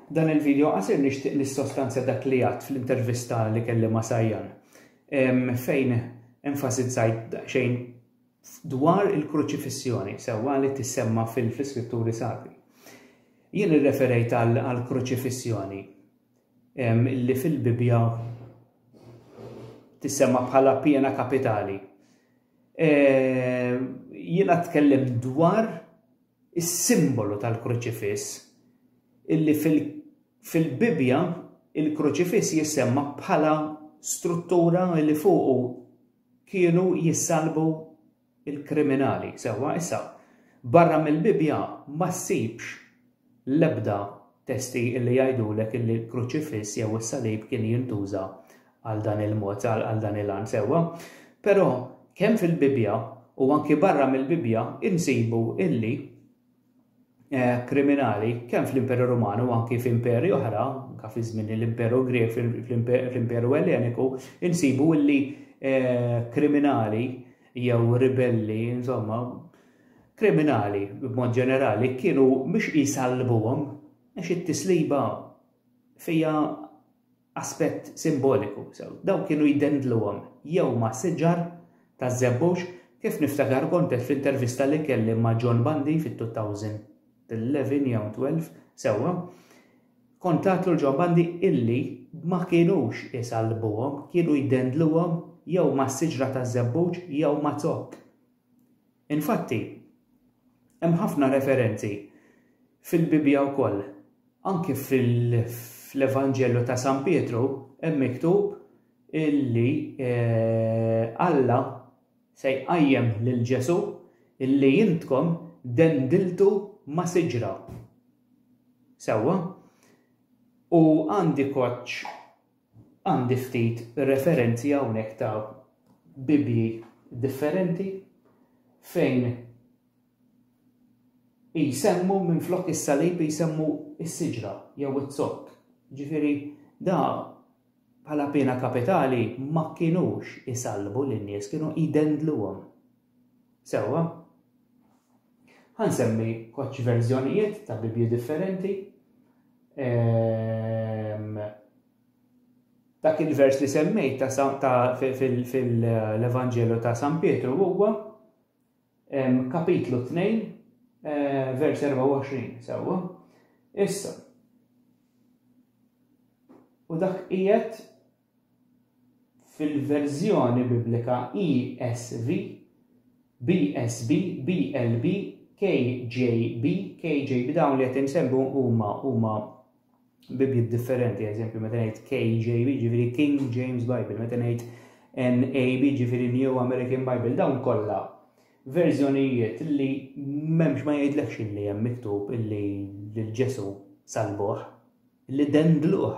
Dan il-video qasir nixtieq nissostanzja dak li għadt fl-intervista li kelli ma' Sajjan fejn enfasizzajt daqsxejn dwar il-kruċifissjoni sewwa li tissemma fil-iskritturi sagri. Jien irreferejt għal kruċifissjoni li fil-Bibja tissemma bħala pjena kapitali. Jiena tkellim dwar is-simbolu tal-Kruċifiss, illi fil-Bibbja l-Kruċifiss jissemma bħala struttura li fuqu kienu jissallbu l-kriminali. Sewwa, issa, barra mill-Bibbja ma ssibx l-ebda testi li jgħidulek illi l-Kruċifiss jew is-Salib kien jintuża għal dan il-mod, għal dan il-għan sewwa. Però kemm fil-Bibbja u anki barra mill-Bibbja insibu illi eh, kriminali kemm fl-Imperu Ruman u anki f'imperi oħra, anke fi żmien l-Imperu Grek fl-Imperu Elleniku, insibu illi eh, kriminali jew ribelli, insomma, kriminali b'mod ġenerali kienu mhux jisalbuhom għax it-tisliba fija Aspett simboliku, sew. Dawn kienu jdendluhom jew ma' siġar taż-żebbuġ, kif niftakar kont għedt fl-intervista li kelli ma' John Bundy fit-2011, jew 12, sewwa, kont għedt lil John Bundy illi ma kinux isallbuhom, kienu jdendluhom jew ma' siġra taż-żebbuġ jew ma' zokk. Infatti, hemm ħafna referenzi fil-Bibbja wkoll. Anki fl-Evanġelju ta' San Pietru hemm miktub illi eh, Alla se jqajjem lil Ġesù illi intkom dendiltu ma' siġra. Sewwa? U għandi koċċ Għandi ftit referenzi hawnhekk ta' Bibbji differenti fejn jsemmu minflok is-salib jsemmu s-siġra jew iz-zokk. Ġifieri da bħala piena kapitali ma kinux isallbu lin-nies, kienu jdendluhom. Sewwa. Ħa nsemmi koċċ verżjonijiet ta' Bibbji differenti. Ehm, dak il-vers li semmejt fil-Evanġelu ta' San Pietru huwa ehm, kapitlu 2 eh, vers 24 sewwa. Issa. U dak qiegħed fil-verżjoni Biblika ESV, BSB, BLB, KJB, KJB, dawn li qed insemmu huma huma Bibliet differenti, eżempju meta ngħid KJB, ġifieri King James Bible, meta ngħid NAB, ġifieri New American Bible, dawn kollha verżjonijiet li memx ma jgħidlekx li hemm miktub illi lil Ġesu salbuh, li dendluh.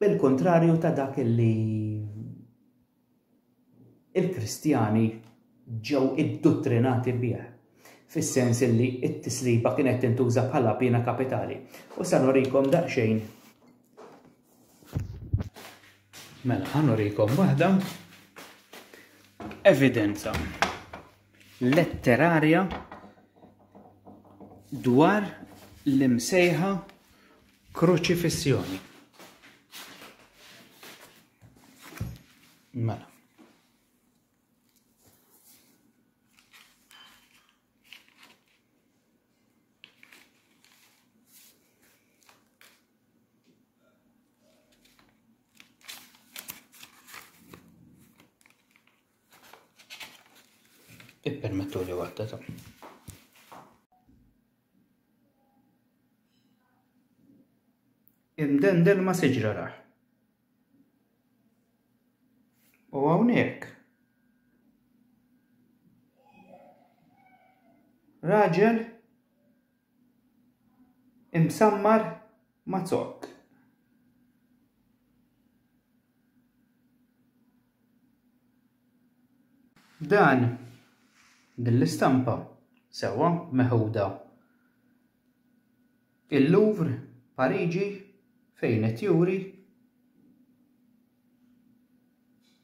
Bil-kuntrarju ta' dak li il-Kristjani ġew idduttrinati bih, fis-sens li t-tisliba kienet tintuża bħala piena kapitali. U sa nurikom daqsxejn. Mela, ħa nurikom waħda evidenza letterarja dwar l-imsejħa Kruċifissjoni. Mela. Ippermettu li waħda ta' Imdendel ma' siġra rah. U hawnhekk raġel imsammar ma' zokk. Dan, din l-istampa, sewwa meħuda il-Louvre, Pariġi, fejn qed juri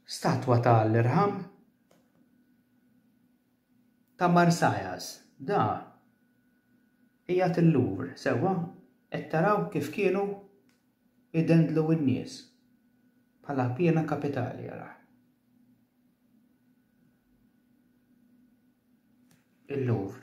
statwa ta' Alla jirham ta' Marsyas. Da qiegħed il-Louvre, sewwa, qed taraw kif kienu? idendlu n-nies bħala piena kapitali għalih. Il-Louvre.